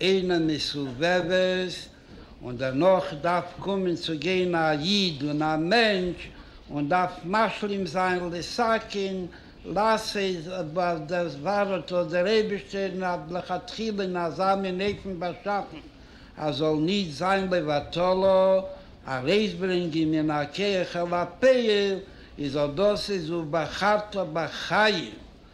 אין א מסובבת, און דערנאך דארף קומען צו גיין א איד און א מענטש און דארף משלים זיין לסכין לעשות ווייל דאס ווארט האט דער אייבישטער לכתחילה אין אזא מין אופן באשאפן אז זאל נישט זיין לבטלה ארויסברענגען מן הכח אל הפועל איז אט דאס איז ובחרת בחיים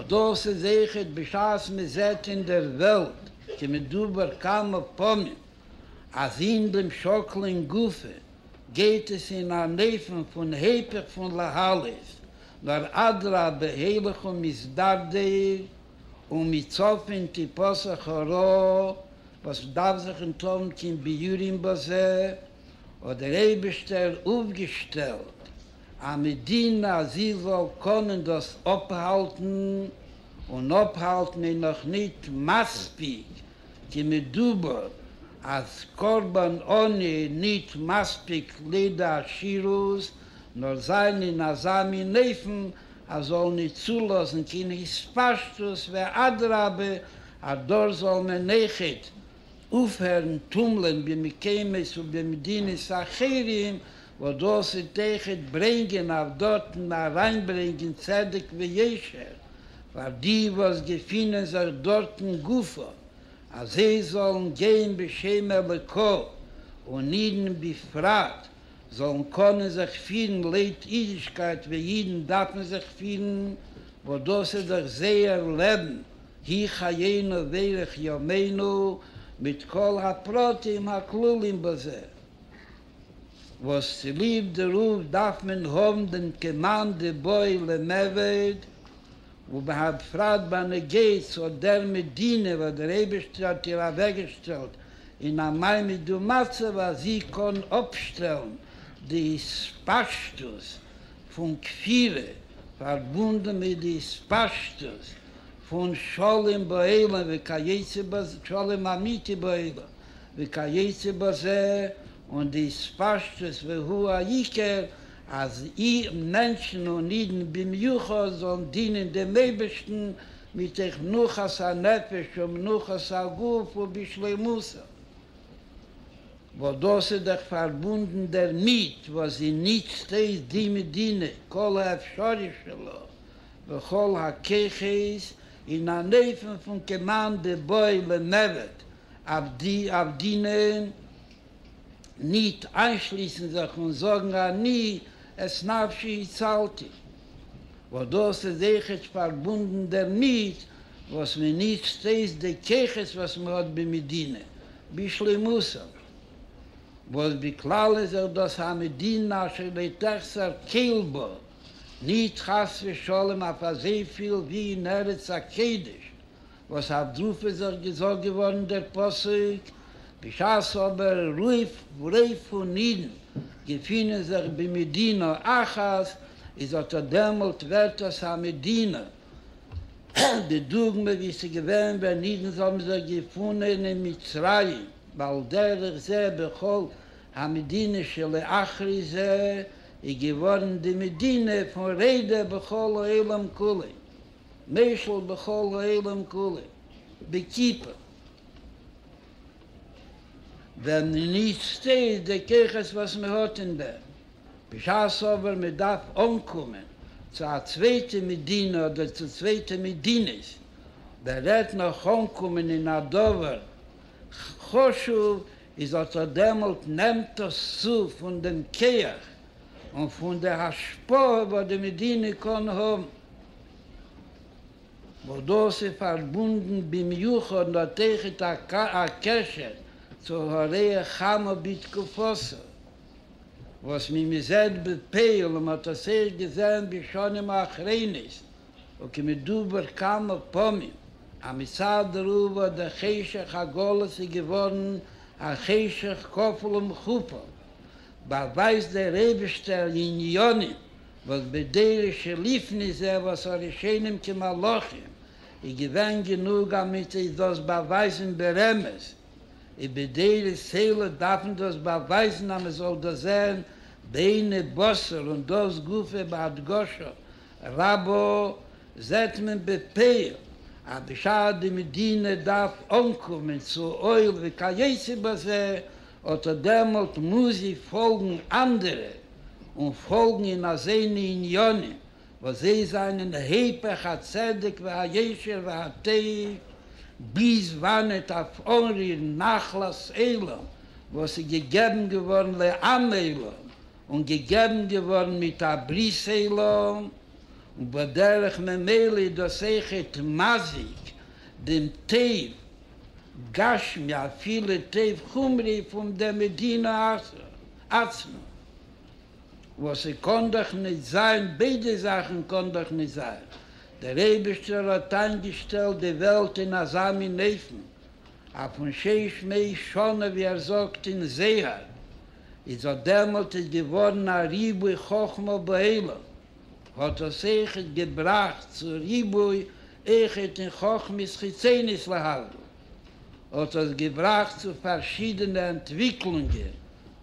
אט דאס איז איכות בשעת מען זעט אין דער וועלט כמדובר כמה פעמים אז אין דעם שאקלען גופא גייט עס אין אן אופן פון היפך פון להעלות, נאר אדרבה הילך ומתדרדר, ומצפון תיפסח הרעה וואס מען דארף זיך אנטלויפן קיין ביאורים בזה, האט דער אייבערשטער אויפגעשטעלט א מדינה אז זי זאל קענען דאס אפהאלטן, און אפהאלטן איז נאך נישט מספיק, כמדובר אז קרבן עוני איז נישט מספיק לידי עשירות, נאר זיין אין אזא מין אופן אז זאל נישט צולאזן קיין התפשטות, ואדרבה אז דארט זאל מען עכט אויפהערן טומלען במקומות ובמדינות אחרים, וואס דאס וועט אייך ברענגען אויף דארטן אריינברענגען צדק ויושר פאר די וואס געפינען זיך דארטן גופא, אז זיי זאלן גיין בשם אלוקו, און אידן בפרט זאלן קענען זיך פירן לויט אידישקייט ווי אידן דארפן זיך פירן, וואס דאס איז דאך זייער לעבן, היא חיינו ואורך ימינו, מיט כל הפרטים הכלולים בזה. וואס צוליב דערויף דארף מען האבן דעם קעמאן דבעי למעביד, ובהפרט ביי נגיס אט דער מדינה וואס דער אייבישטער האט איר אוועקגעשטעלט אין א מעמיד ומצב אז זי קען אפשטעלן די התפשטות פון כפירה פארבונדן מיט די התפשטות פון שלום בעולם וכיוצא בזה שלום אמיתי בעולם. וכיוצא בזה, און די התפשטות והוא העיקר, אז מענטשן און אידן במיוחד זאלן דינען דעם אייבערשטן מתוך מנוחת הנפש ומנוחת הגוף ובשלימותה, וואס דאס איז דאך פארבונדן דערמיט וואס זי נוצט אויס די מדינה כל האפשרי שלה וכל הכוחות אין אן אופן פון כמען בבואו למוות, אויף די אויף די נען ניט איינשליסן זיך און זאגן אני את נפשי הצלתי, וואס דאס איז עכט פארבונדן דערמיט וואס מען ניצט אויס די כוחות וואס מען האט במדינה בשלימותם, וואס בכלל איז זיך דאס א מדינה אשר לא תחסר כיל בה, ניט חס ושלום אויף אזויפיל ווי אין ארץ הקודש, וואס אויף דרוף איז אויך געזאגט געווארן דער פסוק, בשעת אבער רוב רוב פון אידן געפינען זיך במדינה אחת, איז אטא דעמאלט ווערט עס א מדינה, די דוגמא ווי עס איז געווען ווען אידן האבן זיך געפונען אין מצרים, ועל דרך זה בכל המדינה שלאחרי זה איז געווארן די מדינה פון רעדע בכל העולם כולו. משל בכל העולם כולו, בקיפא, ווען מען ניצט אויס די כוחות וואס מען האט אין דעם, בשעת אבער מען דארף אנקומען צו א צווייטע מדינה אדער צו צווייטע מדינות, ווען רעדט נאך אנקומען אין א דבר חשוב, איז אט אט דעמאלט נעמט עס צו פון דעם כח און פון די השפעה וואס די מדינה קען האבן, וואס דאס איז פארבונדן במיוחד נתיחת הקשר צו הרי החמה בתקופתו, וואס ווי מען זעט בפועל און מען האט עס ערשט געזען בשנים האחרונות וכמדובר כמה פעמים, אז מצד רוב האט דער חשך הגלות איז געווארן א חשך כפול ומכופל, באווייזט דער אייבערשטער לעניינים וואס בדרך שליפן איז ער וואס הראשונים כמלאכים איז געווען גענוג א מצות דאס באווייזן ברמז, איז בדרך סלע דארף מען דאס באווייזן אז מען זאל דאס זען בעיני בשר און דאס גופא בהדגשה רבה זעט מען בפועל אז בשעת די מדינה דארף אנקומען צו אויל וכיוצא בזה אָט דעמאָלט מוז זי פֿאָלגן אַנדערע און פֿאָלגן אין אַזענע ענינים, װאָס זײ זײַנען היפּוך הצדק והישר והטובֿ, ביז װאַנעט אױף אָנרירן נחלת עולם, װאָס איז געגעבן געװאָרן לעם עולם און געגעבן געװאָרן מיט אַ ברית עולם, ובדרך ממילא איז דאָס אױך עת מזיק דעם טובֿ. גשמי אפילו טוב חומרי פון דער מדינה עצמה, וואס ס'קען דאך נישט זיין, ביידע זאכן קען דאך נישט זיין, דער אייבערשטער האט איינגעשטעלט די וועלט אין אזא מין אופן, אויפן שש מאה שנה ווי ער זאגט אין זהר, איז אט דעמאלט איז געווארן א ריבוי חכמה בעולם. האט דאס איחוד געבראכט צו ריבוי איכות אין חכמות חיצונית להבדל, האט דאס געבראכט צו פארשידענע אנטוויקלונגען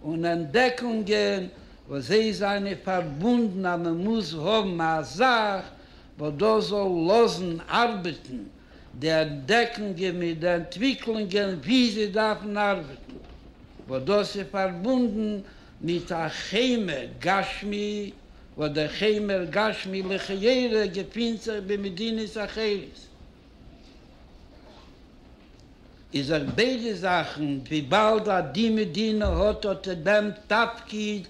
און אנטדעקונגען וואס זיי זיינען פארבונדן אז מען מוז האבן א זאך וואס דאס זאל לאזן ארבעטן די אנטדעקונגען מיט די אנטוויקלונגען ווי זיי דארפן ארבעטן, וואס דאס איז פארבונדן מיט א חמר גשמי, וואס דער חמר גשמי לכאורה געפינט זיך במדינות אחרות, איז זיך ביידע זאכן, וויבאלד אז די מדינה האט אט דעם תפקיד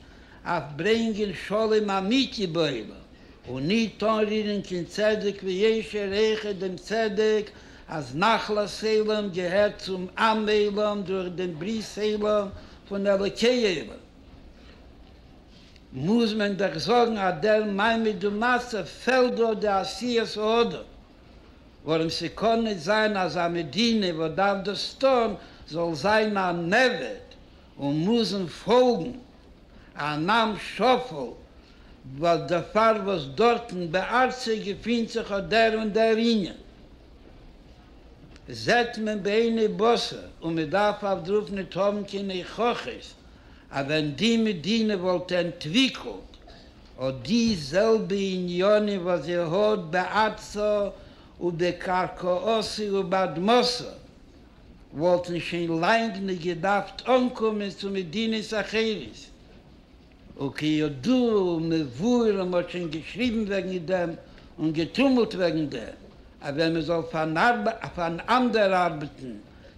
אויף ברענגען שלום אמיתי בעולם, און ניט אנרירען קיין צדק וישר, העכער דעם צדק אז נחלת עולם געהערט צום עם עולם דורך דעם ברית עולם פון אלוקי עולם מוז מען דאך זאגן אז דער מעמד ומצב פעלט דא די עשיית האדם, ווארום ס'קען ניט זיין אז א מדינה וואס דארף דאס טאן זאל זיין אן עבד און מוזן פאלגן אן עם שפל, דערפאר וואס דארטן בארצה געפינט זיך אט דער און דער ענין. זעט מען בעיני בשר, און מען דארף אויף דרוף ניט האבן קיין הוכחות אז ווען די מדינה וואלט ענטוויקלט אט די זעלבע עניינים וואס זי האט בארצו ובקרקעותו ובאדמתו, וואלטן שוין לאנג ניט געדארפט אנקומען צו מדינות אחרות. וכידוע ומבואר און מ'האט שוין געשריבן וועגן דעם און געטומלט וועגן דעם אז ווען מ'זאל פאראנדער'ארבעטן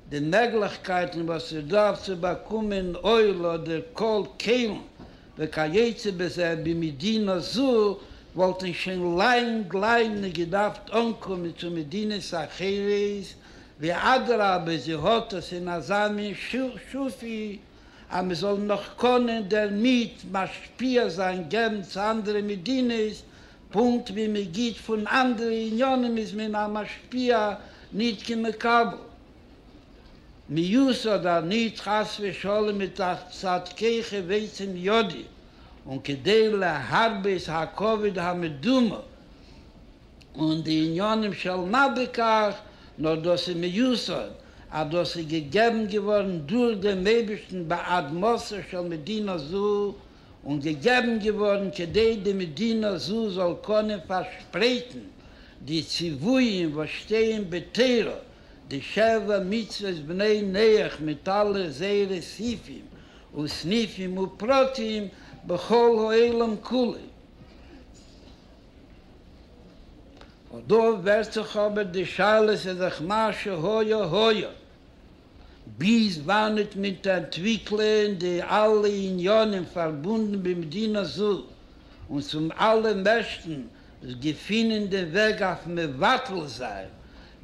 די מעגליכקייטן וואס איז דא אויף צו באקומען אויל אדער קול כלים וכיוצא בזה במדינה זו וואלטן שוין לאנג לאנג נישט געדארפט אנקומען צו מדינות אחרות ואדרבה זי האט עס אין אזא מין שפע אז מען זאל נאך קענען דערמיט משפיע זיין געבן צו אנדערע מדינות, פונקט ווי מען גיבט פון אנדערע עניינים איז מען א משפיע ניט כמקבל מיאוס אדער ניט חס ושלום מתוך צדקיך ועצם ידי, און כדי להרבות הכבוד המדומה. און די עניינים של מה בכך, נאר דאס איז מיוסד אז דאס איז געגעבן געווארן דורך דעם אייבערשטן בעד מעשה של מדינה זו, און געגעבן געווארן כדי די מדינה זו זאל קענען פארשפרייטן די ציוויים וואס שטייען בתורה, די שבע מצוות בני נח מיט אלע זייערע סעיפים וסניפים ופרטים בכל העולם כולו. און דא ווערט זיך אבער די שאלה ס'איז דאך מה שהיה היה, ביז וואנעט וועט מען אנטוויקלען די אלע עניינים פארבונדן במדינה זו, און צום אלעם מערסטן זיך געפינען דעם וועג אויף מבטל זיין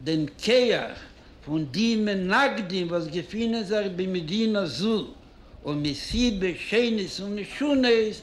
דעם כח פון די מנגדים וואס געפינען זיך במדינה זו, ומסיבות שונות ומשונות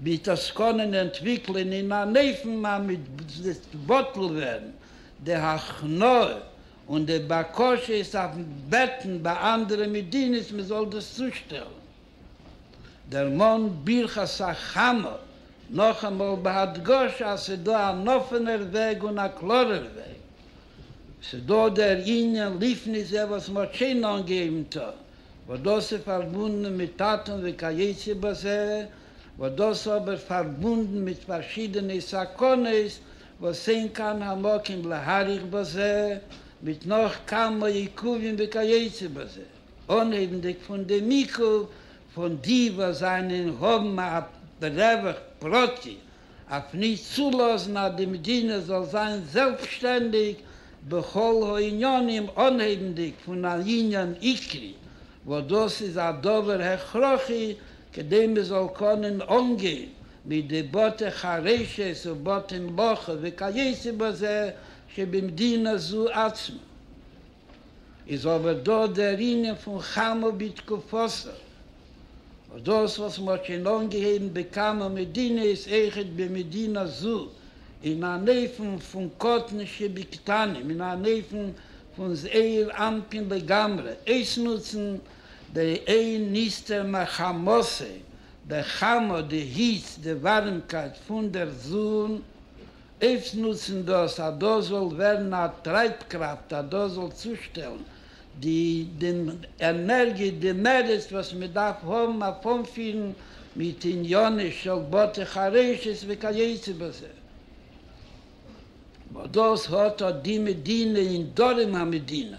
מיט עסקנים אנטוויקלען אין אן אופן אז מען זיצט בטל ווערן די הכנעה און די בקשות אויפן בעטן ביי אנדערע מדינות מען זאל דאס צושטעלן. דערמאנט ברכת הכנה נאכאמאל בהדגשה אז ס'איז דא אן אפענער וועג און א קלארער וועג. ס'איז דא דער ענין לפני זה וואס מען האט שוין אנגעהויבן טון, וואס דאס איז פארבונדן מיט טאטן וכיוצא בזה, וואס דאס אבער פארבונדן מיט פארשידענע סכנות וואס אין כאן המקום להאריך בזה, מיט נאך כמה עיכובים וכיוצא בזה, אנהייבנדיג פון דעם עיכוב פון די וואס זענען האבן א רווח פרטי אויף נישט צולאזן אז די מדינה זאל זיין זעלבסשטענדיג בכל הענינים אנהייבנדיג פון א ענין עיקרי וואס דאס איז א דבר הכרחי כדי מען זאל קענען אנגיין מיט די בתי חרושת ובתי מלאכה וכיוצא בזה שבמדינה זו עצמה. איז אבער דא דער ענין פון חמה בתקופתו, וואס דאס וואס מ'האט שוין אנגעהויבן בכמה מדינות, אויכעט במדינה זו, אין אן אופן פון קטן שבקטנים, אין אן אופן פון זעיר אנפין לגמרי, אויסנוצן די אין נסתר מחמתו, די חמה, די היץ, די ווארימקייט פון דער זון, אויסנוצן דאס אז דאס זאל ווערן א טרייבקראפט אז דאס זאל צושטעלן די די ענערגיע די מעריץ וואס מען דארף האבן אויף אנפירן מיט עניינים של בתי חרושת וכיוצא בזה. וואס דאס האט אט די מדינה אין דרום המדינה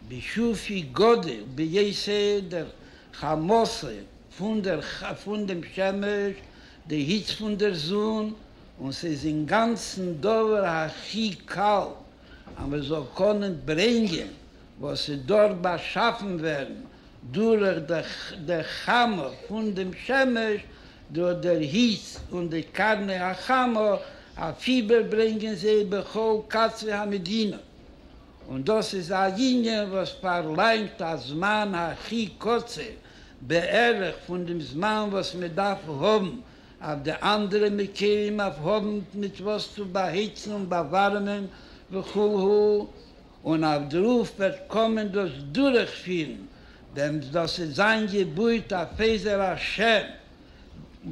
בשפי גודל ביי ס דער חמאסה פון דער פון דעם שמש די היץ פון דער זון, און ס'איז אינגאנצן דבר הכי קל אז מען זאל קענען ברענגען וואס איז דארט באשאפן ווערן דורך די חמה פון דעם שמש, דורך דער היץ און די קרני החמה, אויף איבער ברענגען זיי בכל קצווי המדינה, און דאס איז א יוניאן וואס פארלאנגט א זמן הכי קצר בערך פון דעם זמן וואס מען דארף האבן אויף די אנדערע מקרים אויף האבנד מיט וואס צו באהיצן און באווארעמען וכו', און אויף דערויף וועט קאמען דאס דורכפירן, ווען דאס איז זיין געבויט אויף עזר השם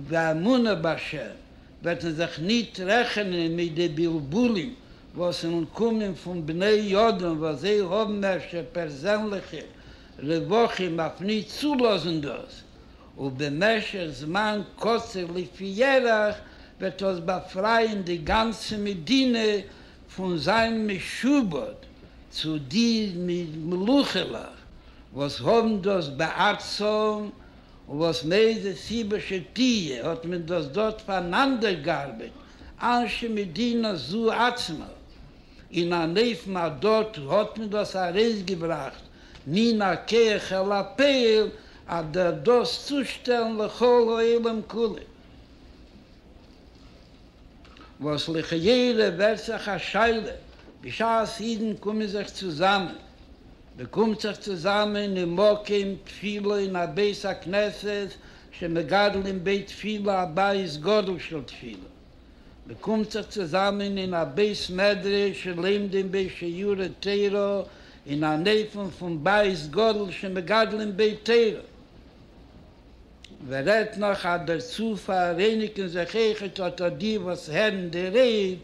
ואמונה בהשם, וועט מען זיך ניט רעכענען מיט די בלבולים וואס וועלן קומען פון בני אדם וואס זיי האבן אפשר פערזענליכע רווחים אויף ניט צולאזן דאס, ובמשך זמן קצר לפי ירח וועט דאס באפרייען די גאנצע מדינה פון זיין משועבד צו די מלוכה'לעך וואס האבן דאס בארצם, און וואס מאיזה סיבה שתהיה האט מען דאס דארט פאנאנדערגארבעט אנשי מדינה זו עצמה, אין אן אופן אז דארט האט מען דאס ארויסגעבראכט מן הכח אל הפועל אדער דאס צושטעלן לכל העולם כולו, וואס לכאורה ווערט זיך א שאלה בשעת אידן קומען זיך צוזאמען, מען קומט זיך צוזאמען אין מקום תפילה אין א בית הכנסת שמגדלים בית תפילה א בית גדול של תפילה, מען קומט זיך צוזאמען אין א בית מדרש און לומדים ב ש יורה תורה אין אן אופן פון בית גדול שמגדלים בו תורה, ווער רעדט נאך אז דערצו פאראייניגן זיך עכט אטא די וואס הערן די רייד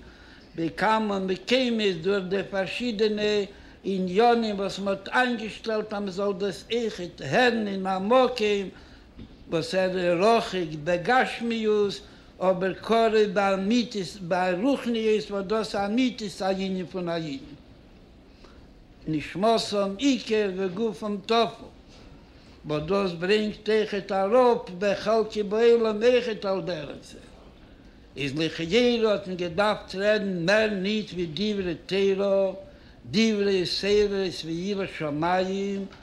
בכמה מקומות דורך די פארשידענע עניינים וואס מען האט איינגעשטעלט אז מען זאל דאס עכט הערן אין א מקום וואס ער איז רחוק בגשמיות אבער קרוב באמיתית ברוחניות וואס דאס אמיתית הענין פון א אידן נשמתם עיקר וגופם טפל וואס דאס ברענגט איכות אראפ בחלקי בעולם איכות על דרך זה איז לכאורה האט מען געדארפט רעדן מער ניט ווי דברי תורה דברי סברות ויראת שמים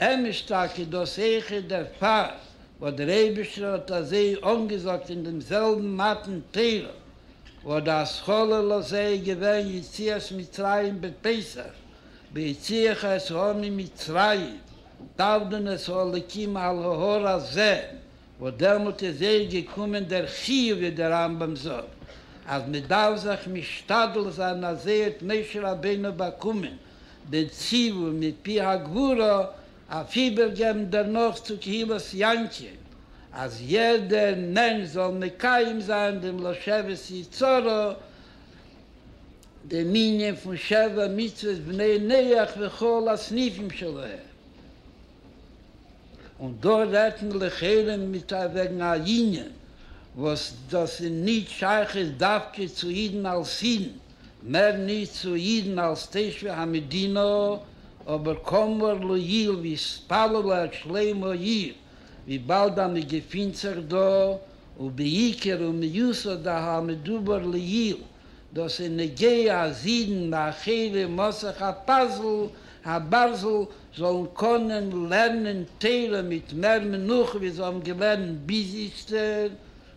אמת איז טאקע דאס איכער דערפאר וואס דער אייבישטער האט אזוי אנגעזאגט אין דעם זעלבן מתן תורה, וואס די השכלה לזה איז געווען יציאת מצרים בפסח, ויוציאך את העם ממצרים, תעבדון את האלקים על ההר הזה, וואס דעמאלט איז ערשט געקומען דער חיוב ווי דער רמב ם זאגט אז מען דארף זיך משתדל זיין אז זי האט משה רבינו באקומען, בציווי מפי הגבורה אויף איבערגעבן דערנאך צו קהילת יענקין אז יעדער מענטש זאל מקיים זיין דעם לא שבת יצרה, דעם ענין פון שבע מצוות בני נח וכל הסניפים שלהם. און דא רעדט מען לכאורה מיט א וועגן א ענין וואס דאס איז נישט שייכות דווקא צו אידן אלס אידן, מער נישט צו אידן אלס תושבי המדינה, אבער קאמאר לאיל והתפללה את שלום העיר וויבאלד אז מען געפינט זיך דא, ובעיקר ומיוסד ע ה המדובר לעיל, דאס איז נוגע אז אידן מאחורי מסך הפאזל הברזל זאלן קענען לערנען תורה מיט מער מנוחה ווי זיי האבן געלערנט ביז איצטער,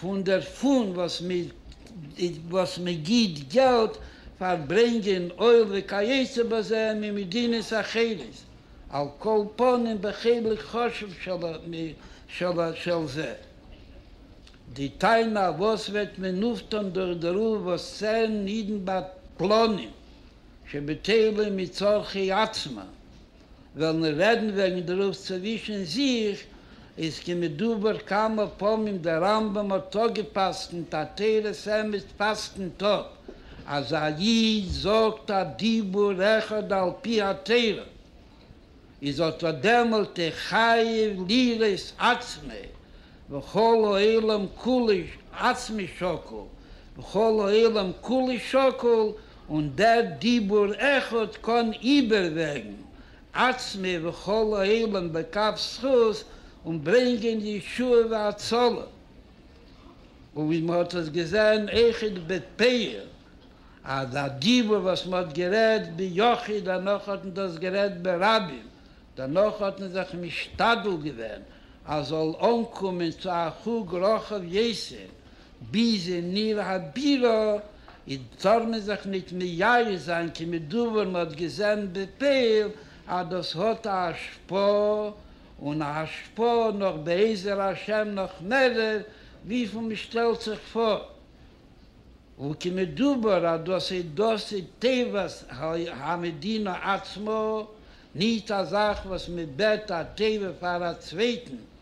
פון דערפון וואס מען וואס מען גיט געלט פאר ברענגען אויל וכיוצא בזה ממדינות אחרות, על כל פנים בחלק חשוב של של של זה. די טענה וואס וועט מען אויפטון דורך דערויף וואס צען אידן באפלאנען שבטלים מצרכי עצמם וועלן רעדן וועגן דערויף צווישן זיך, איז כמדובר כמה פעמים דער רמב ם האט אפגע'פסק'נט עטרת אמת פסק'נט האט אז א איד זאגט א דיבור אחד על פי התורה איז אותו דעמאלט ער חייב ליראות עצמו וכל העולם כולו עצמו שקול וכל העולם כולו שקול און דער דיבור אחד קען איבערוועגן עצמי וכל העולם לכף זכות און ברענגען ישועה והצלה, און ווי מען האט עס געזען איחוד בתפארת אז א דיבור וואס מען האט גערעדט ביחיד דערנאך האט מען דאס גערעדט ברבים, דערנאך האט מען זיך משתדל געווען אז זאל אנקומען צו א חוג רחב יסוד, ביז אין עיר הבירה איז טאר מען זיך ניט מייאש זיין כמדובר, מען האט געזען בפועל אז דאס האט א השפעה, און א השפעה נאך בעזר השם נאך מערער וויפיל מען שטעלט זיך פאר, וכמדובר אז דאס איז דאס איז טובת המדינה עצמה, ניט א זאך וואס מען בעט א טובה פאר א צווייטן,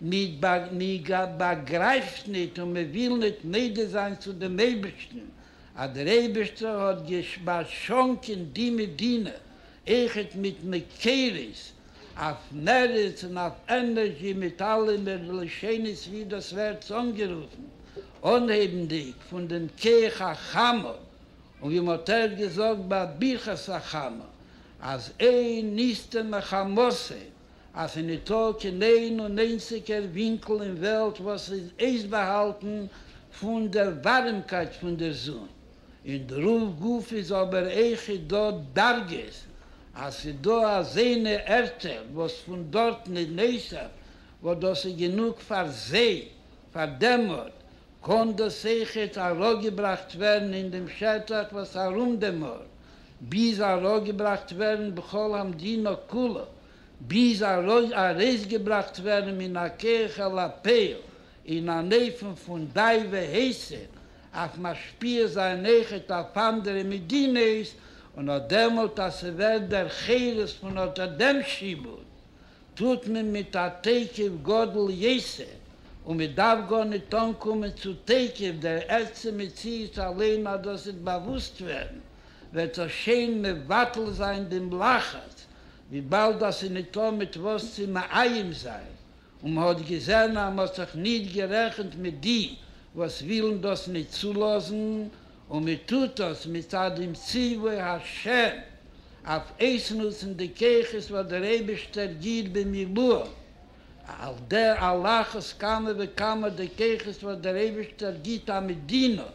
מען באגרייפט ניט און מען וויל ניט מודה זיין צו דעם אייבערשטן אז דער אייבערשטער האט באשאנקען די מדינה אויכעט מיט מקורות אויף מערץ און אויף ענערזשי מיט אלע מער לשונות ווי דאס ווערט אנגערופן, אנהייבנדיק פון דעם כח החמה און ווי מען האט ערשט געזאגט ביי ברכת החמה אז אין נסתר מחמתיהם. אז ס'איז ניטא קיין איין און איינציגער ווינקל אין וועלט וואס איז אויסבאהאלטן פון דער ווארימקייט פון דער זון, אין דער רוב גוף איז אבער עכי דא דרגות, אז ס'איז דא אזוינע ערטער וואס פון דארטן איז נעסער וואס דאס איז גענוג פאר זיי, פאר דעם ארט, קען דאס עכי ד אראפגעבראכט ווערן אין דעם שטח וואס ארום דעם ארט, ביז אראפגעבראכט ווערן בכל המדינה כולה, ביז ארויסגעבראכט ווערן מן הכח אל הפועל אין אן אופן פון די והסר, אויף משפיע זיין עכט אויף אנדערע מדינות, און אט דעמאלט אז ס'ווערט דער חירות פון אט דעם שעבוד. טוט מען מיט א תוקף גדול יעשה, און מען דארף גארניט אנקומען צו תוקף דער עצם מציאות אליין אז דאס וועט באוואוסט ווערן, וועט זיך שיין מבטל זיין דעם לחץ, וויבאלד אז ס'איז ניטא מיט וואס צו מאיים זיין, און מען האט געזען אז מען האט זיך ניט גערעכנט מיט די וואס ווילן דאס ניט צולאזן, און מען טוט דאס מצד דעם ציווי השם אויף אויסנוצן די כוחות וואס דער אייבערשטער גיט במילואם, על דע הלכות כמה וכמה די כוחות וואס דער אייבערשטער גיט א מדינה,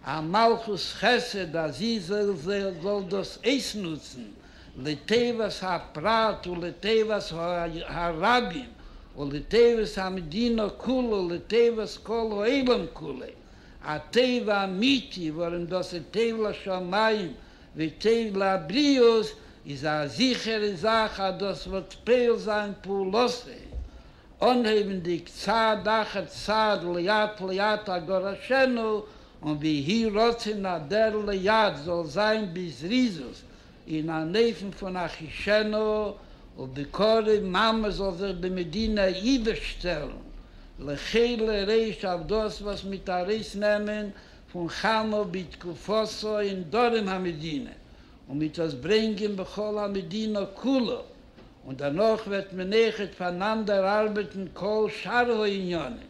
א מלכות חסד אז זי זאל דאס אויסנוצן לטובת הפרט ולטובת הרבים ולטובת המדינה כולה ולטובת כל העולם כולו. א טוב אמיתי, ווארום דאס איז טוב לשמים וטוב לבריות, איז א זיכערע זאך אז דאס וועט פועל זיין פעולותיו, אנהייבנדיק צעד אחר צעד לאט לאט הגרשנו, און ויהי רצון אז דער לאט זאל זיין בזריזות, אין אן אופן פון אחישנה ובקרב מאן מען זאל זיך במדינא איבערשטעלן לחיל ר אויף דאס וואס מיט ארויס נעמען פון חמה בתקופתו אין דרום המדינה און מיט עס ברענגען בכל המדינה כולה און דערנאך וועט מען עכט פארנאנדער ארבעטן כל שאר העניינים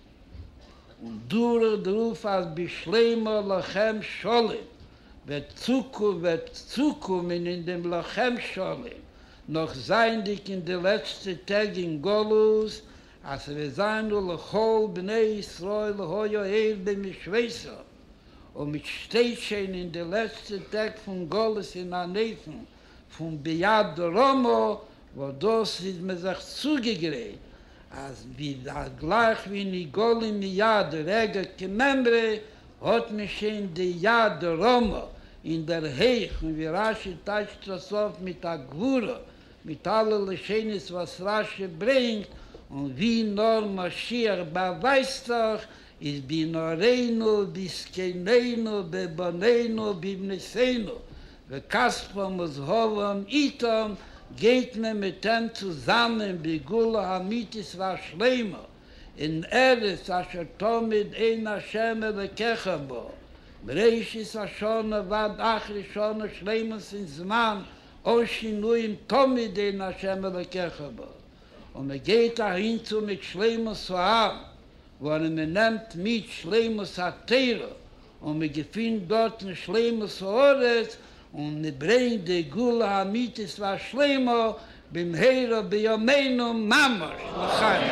און דורך דערויף אז בשלימה לכם שלום וועט צוקו וועט צוקומען אין דעם לכם שלום נאך זייענדיג אין די לעצטע טעג אין גלות אז ס'וועט זיין ולכל בני ישראל היה ער במשמעותו און מ'שטייט שוין אין די לעצטע טעג פון גלות אין אן אופן פון ביאת דרומא וואס דאס איז מען זיך צוגעגרייט אז גלייך ווי נגאלין מיד רגע כממרא האט מען שוין די יד דרומא אין דער הייך און ווי רשי טייטשט דאס אויף מיט א גבורה מיט אלע לשונות וואס רשי ברענגט און ווי נאר משיח באווייזט זיך איז בנערינו ובזקנינו ובבנינו ובבנותינו וכספם וזהבם איתם, גייט מען מיט אים צוזאמען בגאולה האמיתית והשלימה, אין ארץ אשר תמיד עין השם אלקיך בה, מראשית השנה ועד אחרית שנה שלימות אין זמן אן שינויים תמיד עין השם אלקיך בה, און מען גייט אהין צו מיט שלימות העם, ווארום מען נעמט מיט שלימות התורה, און מען געפינט דארטן שלימות הארץ, און מען ברענגט די גאולה האמיתית והשלימה במהרה בימינו ממש לחיים.